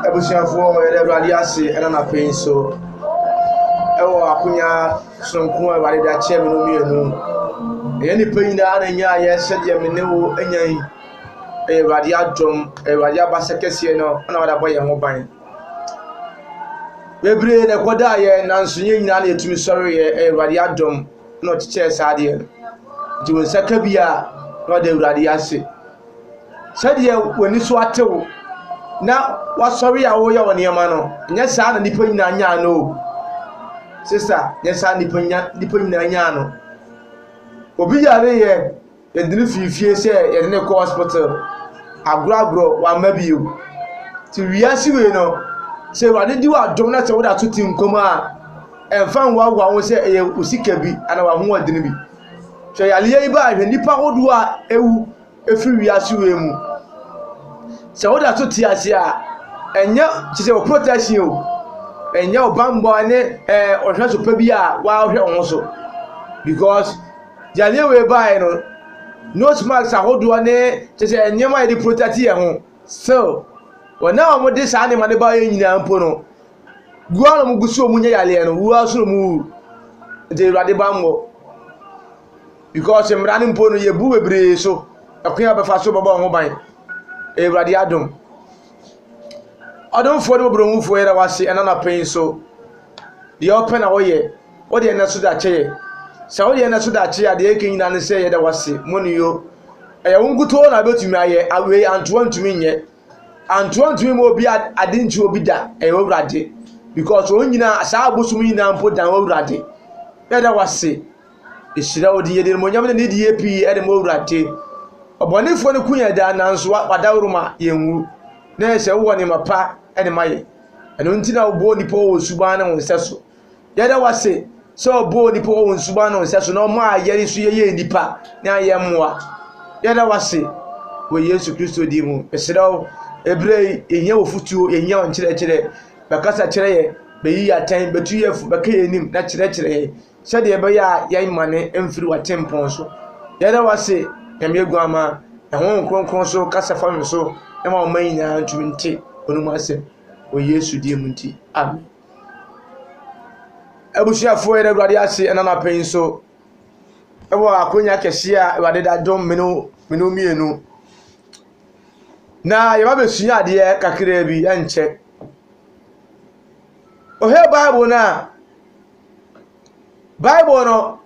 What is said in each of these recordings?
Abusuafoɔ yɛda awurade ase ɛna na pɛi so ɛwɔ akonya sononko a awurade de akyɛ me no mmienu ɛyɛ nipa nyinaa na ɛnya ayɛ sɛdeɛ me ne wo anya yi ɛyɛ awurade adom awurade abasa kɛseɛ no ɛna wada bɔ yɛn ho ban bebree na ɛkɔda yɛ nanso yɛn nyinaa na yɛtumi sɔre yɛ ɛyɛ awurade adom na ɔkyekyɛɛ saa adeɛ no nti wo nsa ka bi a na ɔde awurade ase Sɛdeɛ w'ani so ate wo na w'asɔre a woreyɛ wo nneɛma no, nyɛ saa na nnipa nyinaa nyaa no o. Sista, nyɛ saa nnipa nya nnipa nyinaa nyaa no. Obi yare yɛ yɛde no fii fie sɛ yɛde no kɔ hospital agorɔagorɔ wamma bio. Ti wiase wei no, sɛ Awurade di w'adom na sɛ woda so te nkwa mu a, ɛmfa nhoahoa ho sɛ ɛyɛ wo sika bi anaa w'ahoɔden bi. Hwɛ yareɛ yi baa hwɛ nnipa ahodoɔ a awu firi wiase wei mu. Sɛ woda so te ase a, ɛnyɛ te sɛ wo protection o, ɛnyɛ wo bammɔ ne ɛɛ ɔhwɛ so pa bi a wɔahwɛ wo ho so. Because yareɛ wei baeɛ no, nose mask ahodoɔ ne te sɛ nneɛma a yɛde protect yɛn ho. Still, wɔn a wɔde saa nneɛma no baeɛ nyinaa mpo no, Gu a na wɔgu so a wɔnyɛ yareɛ no, wura so na wɔwu. Nti Awurade bammɔ. Because mmara no mpo no yɛbu bebree so. Ɛkwan a bɛfa so bɛbɔ wɔn ho ban. Awurade adom. Ɔdomfoɔ ne ɔborɔhufoɔ yɛda wase ɛna na pɛn so. Deɛ ɔpɛ na ɔyɛ. Wodeɛ ɛnɛ so da kyɛyɛ. Sɛ wodeɛ ɛnɛ so da kyɛyɛ a deɛ ɛka nyinaa ne sɛ yɛda wase. Mo ne yo. Ɛyɛ wo nkutoo na bɛtumi ayɛ. Awei antoa ntumi nyɛ. Anto antumi ma obi ade nkyerɛ obi da ɛyɛ awurade because wɔn nyinaa saa abosom nyinaa mpo dan awurade yɛda wase ehyira wo de yɛde monyam ne nidie pii ɛde mo awurade ɔbɔnefoɔ no ku yɛn daa nanso wadaworo ma yɛn wu na yɛ sɛ wowɔ nneɛma pa ɛde ma yɛ ɛno nti na wobɔ nipa wɔ suban ne wo nsɛ so Yɛda wo ase sɛ ɔbɔɔ nnipa wɔ wɔn suban ne wɔn sɛ so na ɔma a yɛn nso yɛyɛ nnipa ne ayɛ mmoa. Yɛda wo ase wɔ Yesu Kristo din mu. Mesrɛ wo, ɛberɛ yi yɛhia wɔ futuo, yɛhia wɔ nkyerɛkyerɛ. Bɛkasa kyerɛ yɛ, bɛyi yɛ atɛn, bɛtu yɛ fo, bɛka yɛ anim na kyerɛkyerɛ yɛ sɛdeɛ ɛbɛyɛ a yɛn mane mfiri w'atempɔn so. Yɛda wo ase, Nyame aguama, ɛho nkronkron so kasa fa me so na ma ɔma nyinaa ntumi nte ɔnom asɛm wɔ Yesu din mu nti. Amen. Abusuafoɔ yɛda Awurade ase ɛna anapa yi nso ɛwɔ akonya kɛseɛ a Awurade da dom mene mene mmienu na yɛba bɛsua adeɛ kakraa bi ɛnkyɛ ɔhɛ bible no a bible no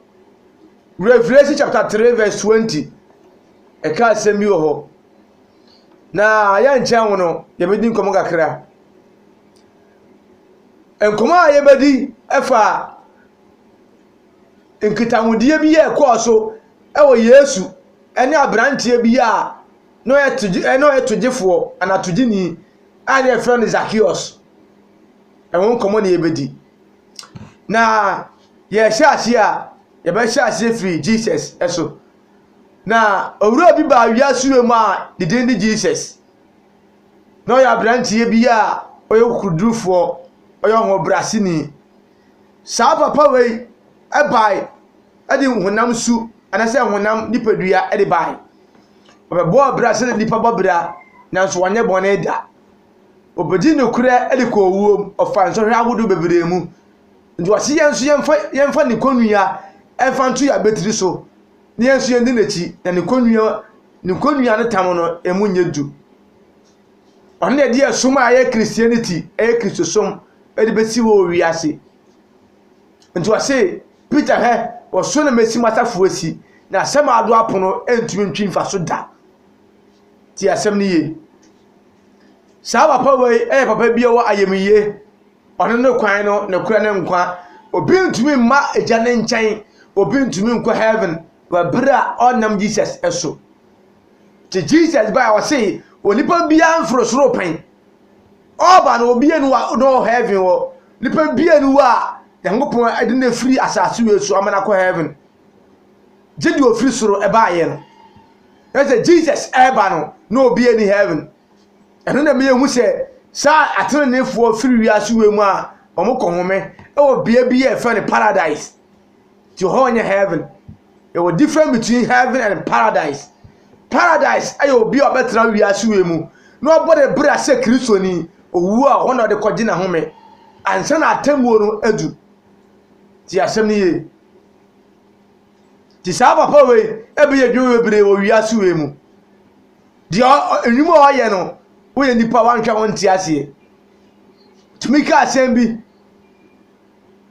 revelation chapter 3 verse 20 ɛka asɛm bi wɔ hɔ na yɛnkyɛn wo no yɛbɛdi nkɔmmɔ kakra Nkɔmmɔ a yɛbɛdi fa nkitahodie bi a ɛkɔɔ so wɔ Yesu ne aberanteɛ bi a na ɔyɛ togye na ɔyɛ togyefoɔ anaa togyeni a na wɔfrɛ no Zakeus. Ɛho nkɔmmɔ na yɛbɛdi. Na yɛhyɛ aseɛ a, yɛbɛhyɛ aseɛ firi Jesus so. Na owura bi baa wiase wura mu a ne din de Jesus. na ɔyɛ aberanteɛ bi a ɔyɛ kokodurufoɔ, ɔyɛ ɔhobrɛaseni. Saa papa wei bae de honam su anaasɛ honam nipadua de bae. Ɔbɛbɔɔ abira sɛdeɛ nnipa bɔ abira nanso wanyɛ bɔne da. Ɔbɛdii nokorɛ de kɔɔ owuom, ɔfaa nsɔhwɛ ahodoɔ bebree mu. Nti wɔse yɛn nso yɛmfa yɛmfa ne kɔnnua mfa nto yɛn abatiri so. Ne asuo nni n'akyi, na ne kɔnnua ne kɔnnua ne tam no, emu nyɛ du. Ɔno na ɛde ɛsom a ɛyɛ Christianity, ɛyɛ Kristosom, ɛde bɛsi hɔ wɔ wiase. Nti ɔse, Peter hɛ, ɔso na mesi m'asafo asi, na asɛm a ado apono ntumi ntwi mfa so da. Ti asɛm no yie. Saa papa wei yɛ papa bi a ɔwɔ ayamyie. Ɔno ne kwan no, nokorɛ ne nkwa. Obi ntumi mma Agya no nkyɛn. Obi ntumi nkɔ heaven wɔ bere a ɔnnam Jesus so. Nti Jesus bae a ɔse onipa biara mforo soro pɛn. Ɔɔba no obie no a na ɔwɔ heaven hɔ. Nipa bie no hɔ a Nyankopɔn de no afiri asase wei so ama no akɔ heaven. Gye deɛ ofiri soro baeɛ no. Ɛsɛ Jesus ɛɛba no na obie ni heaven. Ɛno na ɛma yɛhu sɛ saa ateneneefoɔ firi wiase wei mu a wɔkɔhome wɔ bea bi a ɛfɛ no paradise nti hɔ nyɛ heaven yɛwɔ different between heaven and paradise paradise yɛ obi a ɔbɛtena wiase wei mu na ɔbɔ ne bra sɛ kristoni owu a hɔ na ɔde kɔgye n'ahome ansa na atemmuo no adu ti asɛm no yie Nti saa papa wei ɛbɛyɛ adwuma bebree wɔ wiase wei mu. Deɛ nnwuma a ɔyɛ no, woyɛ nipa wanhwɛ ho nte aseɛ. Tumi ka asɛm bi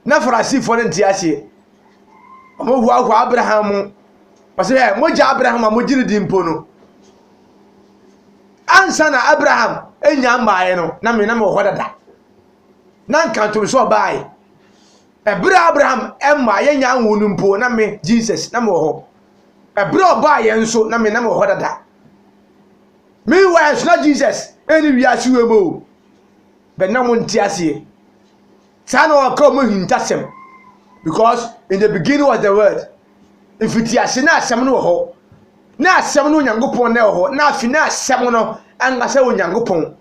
na Farisifoɔ no nte aseɛ. Wɔhoahoa Abraham mu. Wɔsɛ ɛ mogya Abraham a mogye no di mpo no. Ansa na Abraham nya mmaeɛ no, na me na mewɔ hɔ dada. Na nkantom sɛ ɔbaeɛ. Ɛberɛ a Abraham mmaa yɛn nyaa nwoo no mpo na me, Jesus, na mewɔ hɔ. Ɛberɛ a ɔbaa yɛn nso na me, na mewɔ hɔ dada. Meanwhile nso na Jesus ɛnni wiase wei mu o. Bɛ na mo nte aseɛ. Saa na ɔka ɔmo ahintasɛm. Because in the beginning was the word. Mfitiase na asɛm no wɔ hɔ. Na asɛm no Onyankopɔn na ɛwɔ hɔ. Na afi na asɛm no ankasa Onyankopɔn.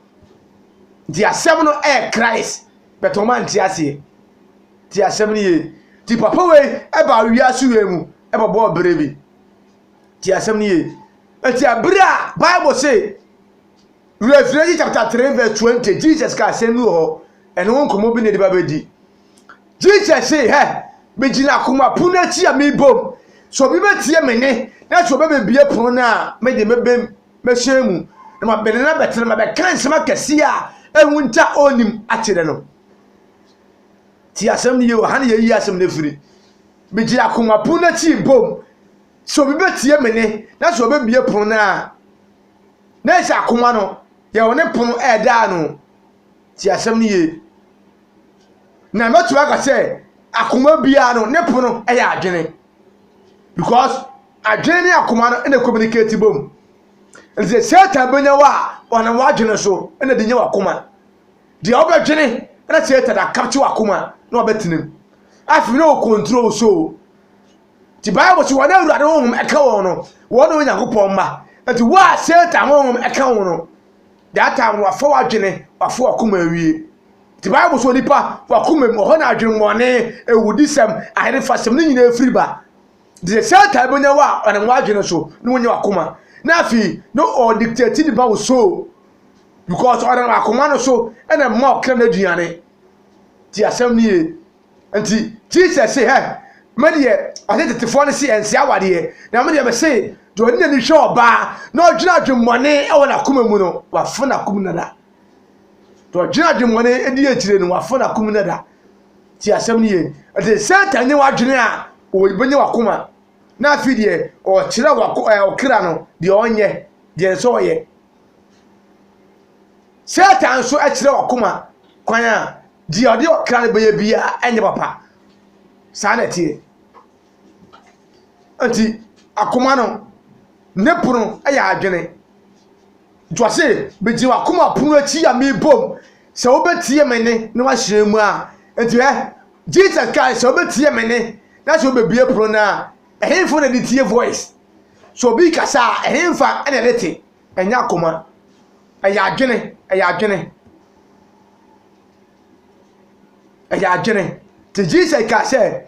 Nti asɛm no ɛyɛ Christ. But ɔmo ante aseɛ. Ti asɛm no yie. Ti papa wei ɛbaa wiase wei mu ɛbɛbɔɔ bere bi. Ti asɛm no yie. Eti abere a Bible se Revelation chapter 3 verse 20 Jesus ka asɛm bi wɔ hɔ. Ɛno ho nkɔmmɔ bi na ɛde ba bɛdi. Jesus se hɛ megyina akoma pono akyi a mebom. So obi bɛtie me ne na so ɔbɛbɛbie pono no a mede mɛbɛm Mɛhyɛn mu, na mabɛn no na bɛte no, mabɛka nsɛm akɛseɛ a ɛho nte a ɔnnim akyerɛ no. Ti asɛm no yie wɔ ha na yɛyi asɛm no firi. Megye akoma pono no akyi bom sɛ obi bɛtie me ne na sɛ ɔbɛbie pono no a na ɛsɛ akoma no yɛ ɔne pono ɛda ano. Ti asɛm no yie. Na mɛtumi aka sɛ akoma biara no ne pono ɛyɛ adwene because Adwene ne akoma no na communicate bom. Ɛnti sɛ Satan bɛnya wo a, ɔnam w'adwene so na de nya w'akoma. Deɛ wobɛdwene na Satan akapkye w'akoma na wabɛtenam. Afei na ɔcontrol wo soul. Nti Bible sɛ wɔn a Awurade honhom ɛka wɔn no, wɔn na Onyankopɔn mma. Nti wo a Satan honhom ɛka wo no, that time wafa w'adwene, wafa w'akoma awie. Nti Bible sɛ onipa w'akoma mu, ɔhɔ na adwemmɔne, awudisɛm, aherefasɛm ne nyinaa firi ba. Deɛ Satan bɛnya wo a ɔnam w'adwene so na wonya wakoma na afei na ɔdictate ne ba wo so because ɔnam akoma no so na mma ɔkra no aduane ti asɛm no yie nti Jesus se hɛ me deɛ ɔne tetefoɔ no se ɛnse awadeɛ na me deɛ me se deɛ ɔne n'ani hwɛ ɔbaa na ɔdwene adwemmɔne wɔ n'akoma mu no wafo n'akom nada deɛ ɔdwene adwemmɔne di akyire no wafo n'akom nada Ti asɛm no yie. Ɛte Satan nyɛ w'adwene a ɔbɛnya w'akoma. Na afei deɛ ɔkyerɛ ɔkra no deɛ ɔnyɛ, deɛ nsɛ ɔyɛ. Satan nso kyerɛ ɔkoma kwan a deɛ ɔde ɔkra no bɛyɛ biara ɛnyɛ papa. Saa na ɛteɛ. Nti akoma no ne pono yɛ adwene. Nti ɔse, Megyina w'akoma pono akyi a mebom sɛ wobɛtie me nne na woahyerɛn mu a. Nti hɛ, Jesus kae sɛ wobɛtie me nne na sɛ wobɛbue pono no a, ɛhenfo na ɛde tie voice? Sɛ obi rekasa a, ɛhenfa na ɛde te? Ɛnyɛ akoma. Ɛyɛ adwene, ɛyɛ adwene. Ɛyɛ adwene. Nti Jesus kae sɛ,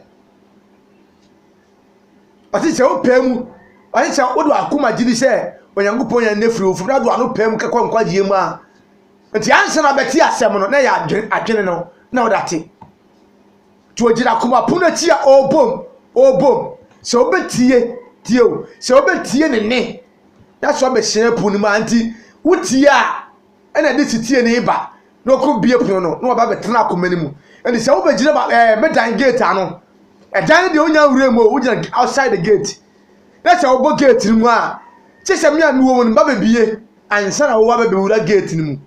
ɔse sɛ wopɛ mu ɔse sɛ wode wakoma gye di sɛ onyankopɔn yɛn ne firi wo foforo ade wano pɛ mu kɛkɔ nkwagyeɛ mu a nti ansa na bɛte asɛm no na yɛ adwene adwene no na wode ate nti ogyina akoma pono akyi a ɔrebom ɔrebom sɛ wobɛtie tie o sɛ wobɛtie ne ne na sɛ ɔbɛhyerɛ po no mu a nti wotie a na ɛde setie no reba na ɔkɔbue pono no na ɔba bɛtena akoma no mu ɛnti sɛ wobɛgyina ba ɛɛ eh, medan gate ano ɛdan no deɛ wonya nwura mu o wogyina outside the gate na sɛ wobɔ gate no mu a kye sɛ me a mewɔ mu no ba bɛbie ansa na wowa bɛbɛwura gate no mu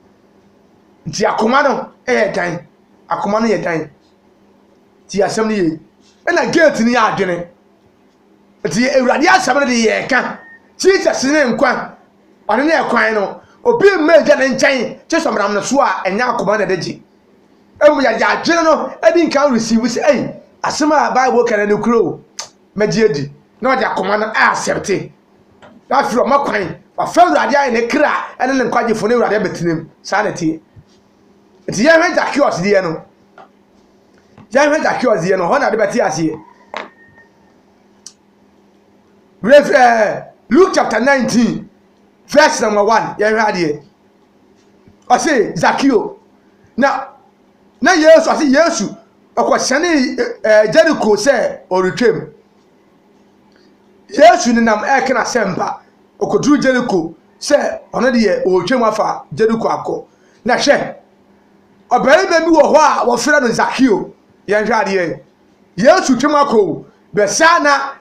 nti akoma no yɛ dan akoma no yɛ dan nti asɛm no yie ɛna gate no yɛ adwene nti awurade asɛm no de yɛɛka jesus ne nkwa Ɔno ne ɛkwan no, obi mma Agya no nkyɛn gye sɛ ɔnam no so a, ɛnyɛ akoma na ɛde gye. Mmom yɛde adwene no di nkan receive sɛ, ei, asɛm a Bible ka no ɛyɛ nokorɛ o, mɛgye adi. Na ɔde akoma no a accepte. Na afei ɔma kwan, wafa Awurade ayɛ ne kra ne ne nkwagyefo ne Awurade abɛtena mu. Saa na ɛteɛ. Nti yɛnhwɛ Zacchaeus deɛ no. Yɛnhwɛ Zacchaeus deɛ no, hɔ na ade bɛte aseɛ. Werɛ fi ɛɛ Luke chapter 19 verse number 1 yɛhwɛ adeɛ. Ɔse Zakeo na na Yesu ase Yesu ɔkɔhyɛne ɛɛ Jericho sɛ ɔretwam. Yesu nenam ɛɛka n'asɛmpa ɔkɔduru Jericho sɛ ɔno deɛ ɔretwam afa Jericho akɔ. Na hwɛ ɔbarima bi wɔ hɔ a wɔfrɛ no Zakeo yɛhwɛ adeɛ. Yesu twam akɔ o, bɛsa na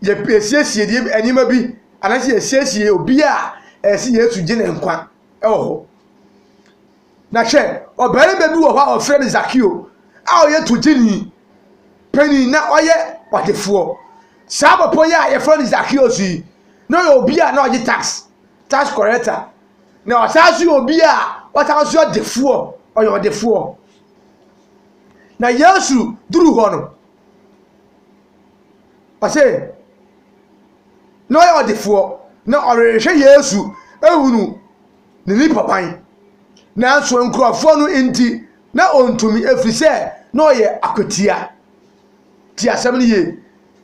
yɛsiesie nneɛma bi anaasɛ yɛsiesie obi a ɛsɛ sɛ Yesu gye ne nkwa wɔ hɔ. Na hwɛ, ɔbarima bi wɔ hɔ a wɔfrɛ no Zakeo a ɔyɛ togyeni panin na ɔyɛ ɔdefoɔ. Saa papa yi a yɛfrɛ no Zakeo so yi, na ɔyɛ obi a na ɔgye tax, tax collector. Na ɔsan so yɛ obi a ɔsan so yɛ ɔdefoɔ, ɔyɛ ɔdefoɔ. Na Yesu duruu hɔ no, ɔse, na ɔyɛ ɔdefoɔ, na ɔrehwɛ Yesu ahunu ne nipaban. Nanso nkurɔfoɔ no nti, na ɔntumi, ɛfiri sɛ na ɔyɛ akwatia. Ti asɛm no yie.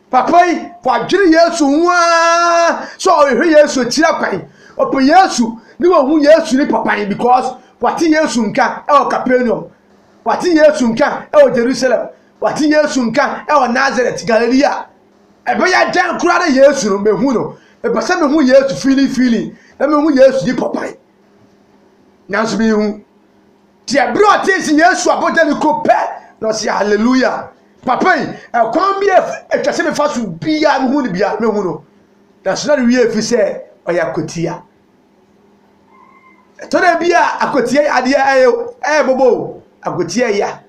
Papa yi, wadwene Yesu ho ara sɛ ɔrehwɛ Yesu akyira kwan. Ɔpɛ Yesu ne wahu Yesu nipaban because wate Yesu nka ɛwɔ Kapernaum. Wɔate Yesu nka wɔ Jerusalem. Wɔate Yesu nka wɔ Nasaret, Galilea. Ɛbɛyɛ dɛn koraa na Yesu no mehu no? Mepɛ sɛ mehu Yesu fiilifiili na mehu Yesu di papae. Nanso mehu. Te ɛberɛ a ɔtee sɛ Yesu abɔ Jeriko pɛ na ɔse hallelujah. Papa yi, ɛkwan bi a ɛtwa sɛ mefa so biara mehu no biara mehu no. Nanso na ne wie fi sɛ ɔyɛ akwatia. Ɛtɔ da bi a akoteɛ yadeɛ ɛyɛ o, ɛɛbobo o, akoteɛ ya.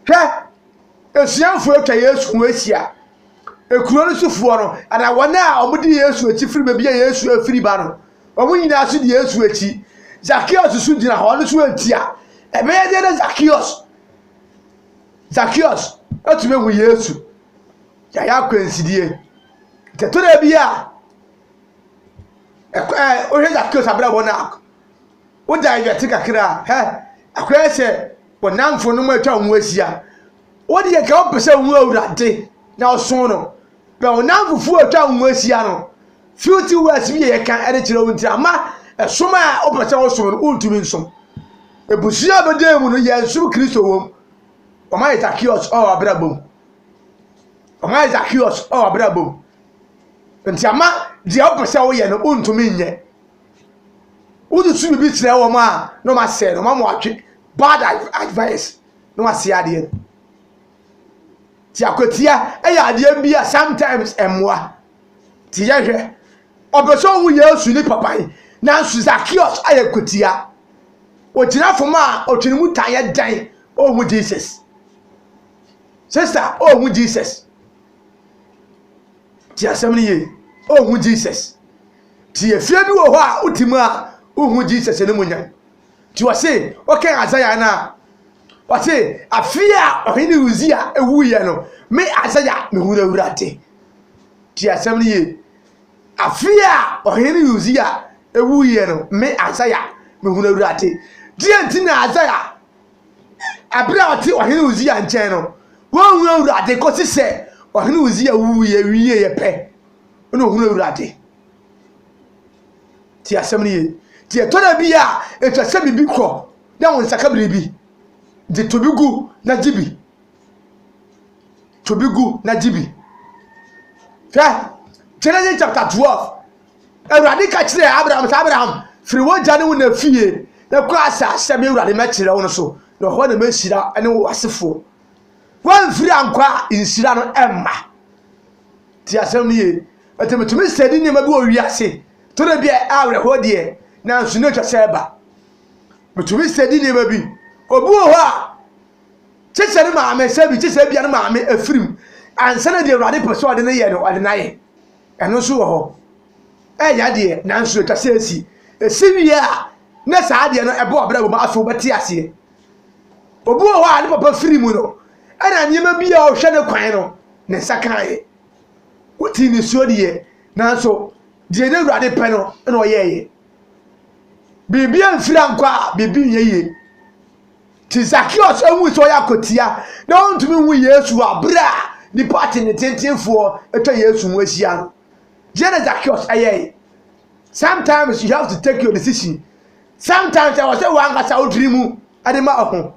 Hwɛ! Asuafoɔ atwa Yesu ho ahyia. Ekuro no sofoɔ no anaa wɔn a wɔdi Yesu akyi firi baabi a Yesu afiri ba no, wɔn nyinaa nso di Yesu akyi. Zakeus nso gyina hɔ, ɔno nso retia. Ɛbɛyɛ dɛn na Zakeus Zakeus atumi ahu Yesu? Yɛayɛ akwansidie. Nti ɛtɔ da bi a. Ɛk ɛɛ wohwɛ Zakeus abrabɔ no a, wogyae dwɛte kakra a, hɛ! Ɛkɔyɛ sɛ wɔn nnamfonom atwa wɔn ho ahyia. Wo deɛ anka wopɛ sɛ wohu Awurade na wosom no. Berɛ a wo nnamfofoɔ a atwa wo ho ahyia no, filthy words bi a wɔka de kyerɛ wo nti amma ɛsom a wopɛ sɛ wosom no, wontumi nsom. Abusua a bɛdaa mu no, yɛnsom Kristo wɔ mu. Wɔayɛ Zakeus wɔ w'abrabɔ mu. Wɔayɛ Zakeus wɔ w'abrabɔ mu. Nti ama deɛ wopɛ sɛ woyɛ no wontumi nyɛ. Wode tu biribi kyerɛ wɔn a na wɔn asɛe no, wɔn ama wɔatwe bad advice na wɔasɛe adeɛ no. Ti akwatia yɛ adeɛ bi a sometimes ɛmmoa. Ti yɛhwɛ. Ɔpɛ sɛ ɔhu Yesu ne papa yi, nanso Zacchaeus ayɛ kwatia. Ogyina fam a ɔtwe ne mu tan yɛ dɛn ɔhu Jesus. Sista ɔhu Jesus. Tie asɛm no yie. Ɔnhu Jesus. Ti efie bi wɔ hɔ a wote mu a wohu Jesus no mu nya. Ti ɔse ɔkɛn Isaiah no a ɔse afie a ɔhene Uzia ewuiɛ no me Isaiah me hu Awurade. Ti asɛm no yie. Afie a ɔhene Uzia ewuiɛ no me Isaiah me hu Awurade. Deɛ nti na Isaiah Bere a ɔte Ɔhene Usia nkyɛn no, wanhu Awurade kosi sɛ Ɔhene Usia wuwui wieeɛ pɛ na ɔhunuu Awurade. Tie asɛm no yie. Nti ɛtɔ da bi a, ɛtwa sɛ biribi kɔ na wo nsa ka biribi. Nti to bi gu na gye bi. To bi gu na gye bi. Hwɛ Genesis chapter twelve Awurade ka kyerɛɛ Abraham sɛ, Abraham, firi w'agya ne wo na fie na kɔ asase a me Awurade mɛkyerɛ wo no so, na ɛhɔ na mɛhyira ne wo asefoɔ. Woamfiri ankɔ a, nhyira no ɛmma. Ti asɛm no yie. Ɛti metumi sɛ di nneɛma bi wɔ wiase, to da bi a awerɛhoɔ deɛ, nanso na atwa sɛ ɛba. Metumi sɛ di nneɛma bi. Obi wɔ hɔ a, kye sɛ ne maame sɛ bi, kye sɛ bia ne maame afirim, ansa na deɛ Awurade pɛ sɛ ɔde no yɛ no, ɔde no ayɛ. ɛno nso wɔ hɔ ɛyɛ adeɛ nanso ɛtwa sɛ ɛsi ɛsi wie a na saa adeɛ no ɛbɔ ɔbrɛ wɔ mu afei wobɛte aseɛ obi wɔ hɔ a ne papa firi mu no ɛna nneɛma bi a ɔhwɛ ne kwan no ne nsa kaeɛ wotii ne suo deɛ nanso deɛ ne awurade pɛ no na ɔyɛɛyɛ biribi amfiri ankɔ a biribi nyɛ yie Nti Zakeus hui sɛ ɔyɛ akwatia na ɔntumi nhu Yesu a berɛ a nnipa atenetentefoɔ atwa Yesu ho ahyia no. Deɛ na Zakeus ɛyɛe. Sometimes you have to take your decision. Sometimes ɛwɔ sɛ wankasa wodiri mu de ma ɔho.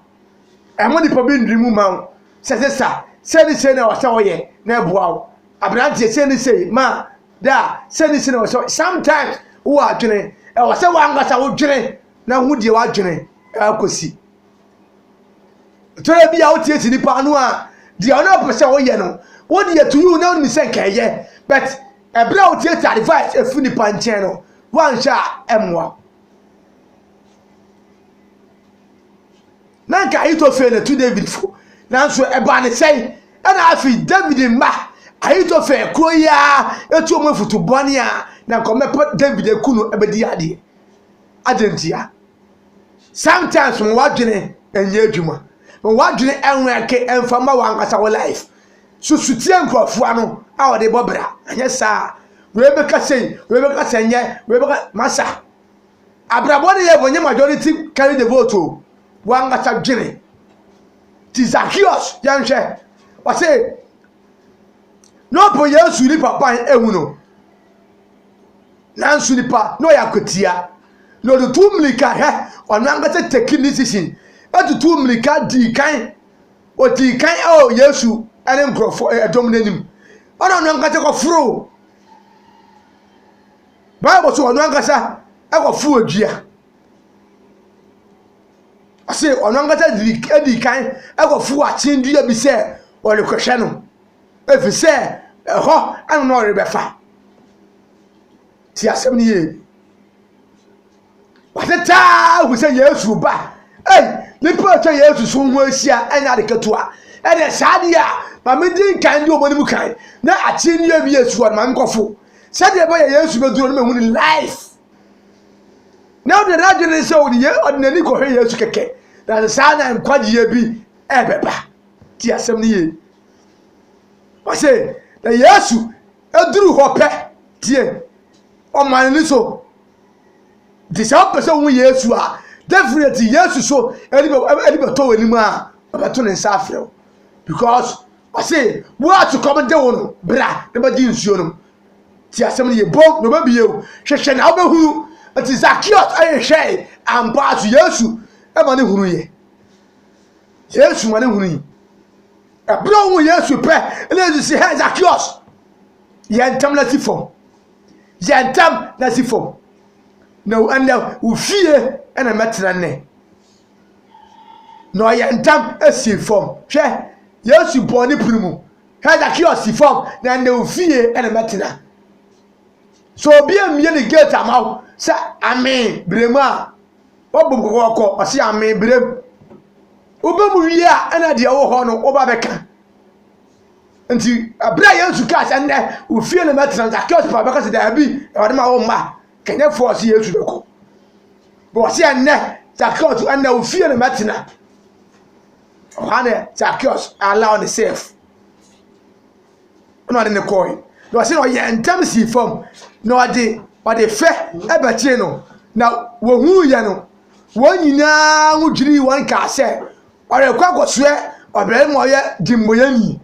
Ɛmo nipa bi ndiri mu ma wo sɛ sesa sɛ ne sɛ na ɛwɔ sɛ ɔyɛ na ɛboa wo. Aberanteɛ sɛ ne sɛ ma da sɛ ne sɛ na ɛwɔ sɛ sometimes wowɔ adwene ɛwɔ sɛ wankasa wodwene na hu deɛ wadwene akɔsi. Twerɛ bi a wotie si nipa ano a deɛ ɔno ɔpɛ sɛ ɔyɛ no wode yɛ to you na wonim sɛ nka ɛyɛ but ɛberɛ a wotie ti advice ɛfiri nipa nkyɛn no woanhwɛ a ɛmmoa na nka ahitofel na tu david fo nanso ɛbaa ne sɛn ɛna afei david mma ahitofel kuro yi a ɛtu ɔmo afutu bɔne a na nkɔmɛpɛ david aku no ɛbɛdi adeɛ Adɛn ntia? Sometimes ma w'adwene nyɛ adwuma. Ma w'adwene nwɛke mfa mma w'ankasa wo life. Susu tie nkurɔfoɔ ano a wɔde bɔ bra. Anyɛ saa a, wei bɛka sei, wei bɛka sɛ nyɛ, wei bɛka masa. Abrabɔ ne yɛ bɔ nyɛ majority carry the vote o. W'ankasa dwene. Ti Zacchaeus yɛnhwɛ. Wɔse, na ɔpɛ Yesu nipa ban ehu no. Nanso nipa na ɔyɛ akwatia, na ɔtutuu mmirika hɛ, ɔno ankasa taking decision, tutuu mmirika dii kan, ɔdii kan wɔ Yesu ne nkurɔfoɔ ɛdɔm no anim, ɛna ɔno ankasa kɔforoo, Bible sɛ ɔno ankasa kɔforoo dua. Ɔse ɔno ankasa dii kan kɔforoo akyen dua bi sɛ ɔrekɔhwɛ no. Efisɛ ɛhɔ na na ɔrebɛfa. Tie asɛm no yie. Wɔatete ahu sɛ Yesu reba. Ei, nnipa a atwa Yesu so ho ahyia ɛnyɛ ade ketewa. Ɛnna saa deɛ a maame di nkan de wɔn anim kan na akyire nnua bi yɛ suwa no maame kɔfo. Sɛdeɛ ɛbɛyɛ Yesu bɛduru no mahu ne life. Na ɔde n'adwene sɛ ɔde n'ani kɔhwɛ Yesu kɛkɛ. Na saa na nkwagyeɛ bi ɛrebɛba. Tie asɛm no yie. Ɔse na Yesu duru hɔ pɛ, tie, ɔma n'ani so. Nti sɛ wopɛ sɛ wohu Yesu a, definitely Yesu so ɛde bɛtɔ w'anim a ɔbɛto ne nsa afrɛ wo because ɔse wo a sukɔm de wo no bra na bɛgye nsuo no ti asɛm no yɛ bom na ɔbɛbie wo hwehwɛ na wobɛhunu nti Zacchaeus ayɛ hwɛe ampa so Yesu ɛma ne hunu yɛ Yesu ma no hunui. Ɛberɛ a ɔhu Yesu pɛ na Yesu si hɛ Zakeos yɛ ntɛm na si fam yɛ ntɛm na si fam na ɛnɛ wo fie ɛna mɛtena nnɛ na ɔyɛ ntɛm si fam hwɛ Yesu bɔɔ ne pere mu hwɛ Zakeos si fam na ɛnɛ wo fie ɛna mɛtena so obi mmie ne gate ama wo sɛ amen berɛ mu a Wɔbɔ mu kɔkɔɔkɔ, ɔse a mebrɛ mu. Woba mu wie a ɛna deɛ wɔ hɔ no woba bɛka. Nti ɛberɛ a Yesu kaa sɛ nnɛ ofie na mɛtena Zacchaeus pa bɛka sɛ daabi ɛwɔde ma wo mma kanyɛfoɔ ɔse Yesu bɛkɔ. Bɔ ɔse ɛnnɛ Zacchaeus ɛnnɛ ofie na mɛtena. Ɔhɔ ne Zacchaeus allow ne safe. ɛna ɔde no kɔe na ɔsɛ ɔyɛ ntɛm sii fam na ɔde ɔde fɛ ɛbɛkyee no na wɔhuu yɛ no wɔn nyinaa ho dwirii wɔn kaa sɛ ɔrekɔ akɔsoɛ ɔbarima ɔyɛ dimmɔyɛni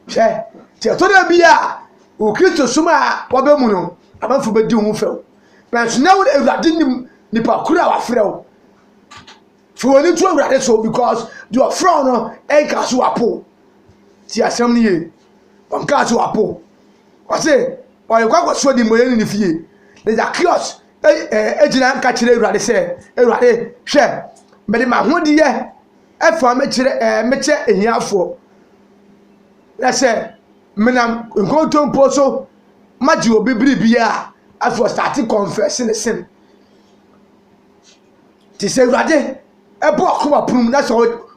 hwɛ nti ɛtɔ dɛ bi a wɔ kristo som a wɔbɛ mu no amanfo bɛdi ho fɛw nanso na awurade nim nipa koro a wafrɛ wo Fa w'ani to Awurade so because deɛ ɔfrɛ wo no nkaa so wapo. Ti asɛm no yie. Ɔnkaa so wapo. Ɔse ɔrekɔ akɔsoɔ de mmɔyɛ ne ne fie. Na Zacchaeus gyina nka kyerɛ Awurade sɛ, Awurade hwɛ, mede m'ahodeɛ ɛfa mekyerɛ ɛɛ mekyɛ ahiafoɔ. Na sɛ menam nkontompo so magye obi biribi a, afei ɔstate confess ne sin. Te sɛ Awurade bɔ akoma pono mu na sɛ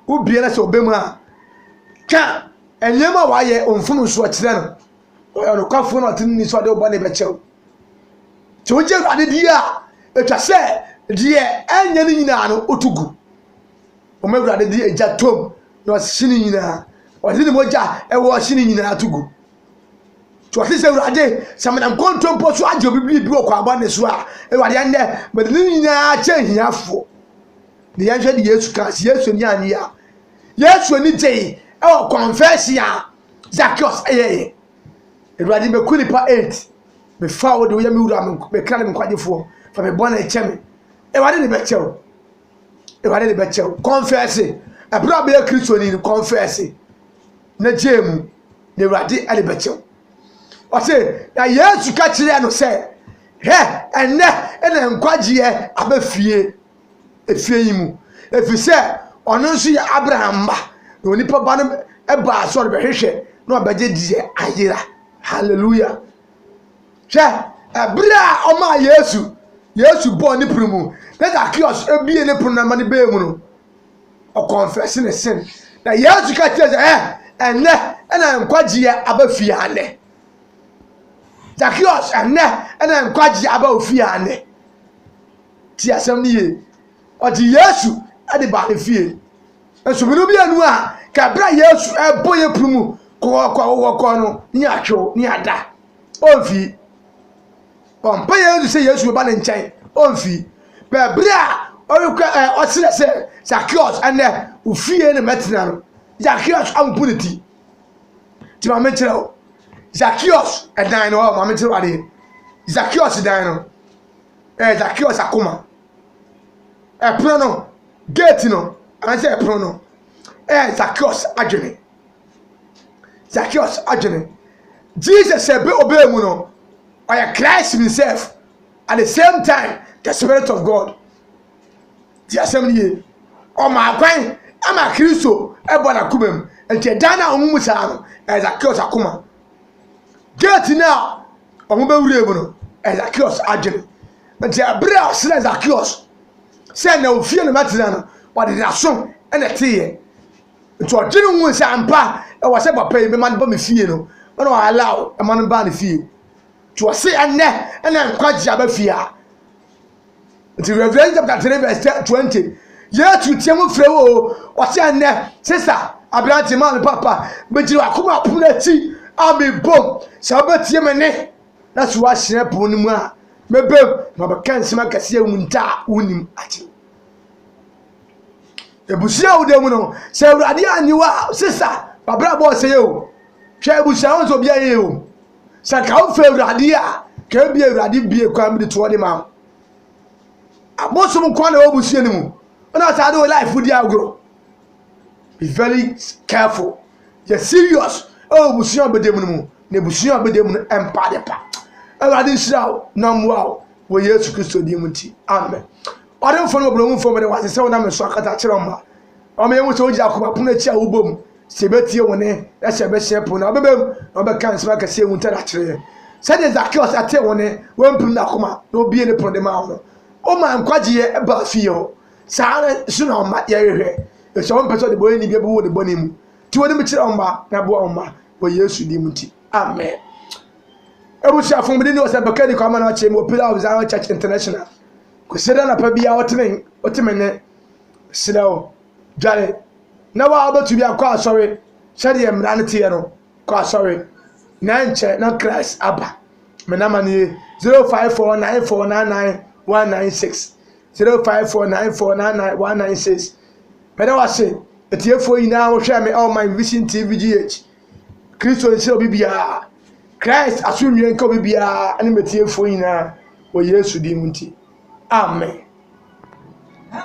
wobie na sɛ ɔbɛ mu a, ka nneɛma a wayɛ mfomso kyerɛ no. Ɔyɛ ɔnokwafo na ɔte ne so ɔde ɔbɔ ne bɛkyɛw. Sɛ wogye Awurade di a, atwa sɛ deɛ ɛnyɛ ne nyinaa no wotu gu. Wɔn Awurade de agya tom na ɔhye ne nyinaa. Ɔde ne mogya ɛwɔ ɔhye ne nyinaa to gu. Nti ɔse sɛ Awurade sɛ menam kontompo so agye obi biribi wɔ kwan bɔne so a, Awurade ɛnnɛ mede ne nyinaa kyɛ ahiafoɔ. Ne yɛnhwɛ de Yesu ka sɛ Yesu ani annye a Yesu ani gyei ɛwɔ confession a Zacchaeus ɛyɛeɛ. Awurade mɛku nipa eight mefa wo de woyɛ me wura me kra ne me nkwagyefoɔ fa me bɔne kyɛ me. Awurade ne bɛkyɛ wo. Awurade ne bɛkyɛ wo. Confession. Ɛberɛ a bɛyɛ Kristoni no confession na gyee mu. na Awurade de bɛkyɛ wo. Ɔse, na Yesu ka kyerɛɛ no sɛ, hwɛ, ɛnnɛ na nkwagyeɛ aba fie, efie yi mu, ɛfiri sɛ ɔno nso yɛ Abraham mma, na onipa ba no baa sɛ ɔrebɛhwehwɛ na ɔbɛgye deɛ ayera. Hallelujah. Hwɛ, ɛberɛ a ɔmaa Yesu, Yesu bɔɔ ne pono mu, na Zacchaeus ebie ne pono na ma no bɛɛ mu no, ɔkɔnfɛse ne sin. Na Yesu ka kyerɛ sɛ, ɛ ɛnɛ ɛna nkwagyeɛ aba fie anɛ? Zacchaeus ɛnɛ ɛna nkwagyeɛ aba ofie anɛ? Ti asɛm no yie. Ɔgye Yesu de baa ne fie. Nsubiri mmienu a ka ɛberɛ a Yesu ɛbɔ yɛ punu mu kɔkɔkɔkɔkɔ no ne atwew ne ada. Ɔmfii. Ɔbɔ mpaeɛ ara nso sɛ Yesu bɛba ne nkyɛn, ɔmfi. Bɛɛ berɛ a ɔrekɔ ɛ ɔserɛ sɛ, Zakeus, ɛnnɛ, wo fie na mɛtena no. Zakeus abubu ne ti. Nti ma menkyerɛ wo. Zakeus dan no hɔ, ma menkyerɛ wo adeɛ. Zakeus dan no, ɛyɛ Zakeus akoma. Ɛpono no, gate no, anaasɛ ɛpono no, ɛyɛ Zakeus adwene. Zacchaeus adwene. Jesus sɛ bɛ ɔbɛɛ mu no, ɔyɛ Christ himself at the same time the spirit of God. Ti asɛm no yie. Ɔmaa kwan ama Kristo ɛbɔ n'akoma mu. Nti ɛdan no a wɔn mu saa no, ɛyɛ Zacchaeus akoma. Gate no a wɔn bɛwura mu no, ɛyɛ Zacchaeus adwene. Nti ɛberɛ a ɔsrɛ Zacchaeus sɛ na ofie na matena no, ɔde n'aso na ɛteeɛ. Nti ɔgye ne ho sɛ ampa ɛwɔ sɛ papa yi mema no ba me fie no ɛna ɔ allow ɛma no baa ne fie nti ɔse ɛnɛ ɛna nkwagye aba fie a nti Revelation chapter 3 verse 20 Yesu teɛ mu frɛ wo ɔse ɛnɛ sesa aberante maa me papa megyina wakoma apono akyi a mebom sɛ wobɛtie me ne na so wahyerɛ pono no mu a mebom na mabɛka nsɛm akɛseɛ wo ntaa wonim agye Abusua a woda mu no, sɛ Awurade anyi wo a, sesa w'abrabɔ ɔsɛe o. Hwɛ abusua ho sɛ obi ayɛ o. Sɛ nka wofɛ Awurade a, ka ebi Awurade bie kwan bi de toɔ de ma wo. Abosom nko na ɛwɔ abusua no mu. Ɔna ɔtaa de wo life di agorɔ. Be very careful. Yɛ serious ɛwɔ abusua a ɔbɛda mu no mu. N'abusua a ɔbɛda mu no mpa adepa. Awurade nhyira wo na mmoa wo wɔ Yesu Kristo din mu nti. Amen. Ɔdemfo no wɔbrɛhumfo mede wase sɛ wonam nso akata kyerɛ ɔma. Ɔma yɛhu sɛ wogyina akoma pono akyi a wobɔ mu sɛ yɛbɛtie wo ne na sɛ yɛbɛhyɛ pon no a wobɛbam na wobɛka nsɛm akɛse ehu ntɛda kyerɛ yɛn. Sɛdeɛ Zakeus ɛtee wo ne wampirim n'akoma na obie ne pono de maa wo no, woma nkwagyeɛ baa fie hɔ. Saa ara nso na ɔma yɛhwehwɛ, ɛfiri sɛ ɔmpɛ sɛ ɔde bɔne nibea bɛwɔ ne bɔne mu. Ti w'anim kyerɛ ɔma na boa ɔma wɔ Yesu din mu ti. Amen. Abusuafo bi ne ɔsɛ bɛka ni kwama na akyerɛ mu wɔ Pillar of Zion Church International. Kwesɛ dɛ anapa biara wɔtene wɔteme ne serɛ wo dware na wa wobɛtumi akɔ asɔre sɛdeɛ mmara no teɛ no kɔ asɔre na nkyɛ na Christ aba. Menama nie 054 9499 196 054 9499 196 mɛda wase Atiefoɔ nyinaa a wɔhwɛɛ me ɛwɔ my vision TV GH. Kristo nhyira obi biara. Christ asomdwie nka obi biara ɛne m'atiefoɔ nyinaa wɔ Yesu din mu nti. Amen.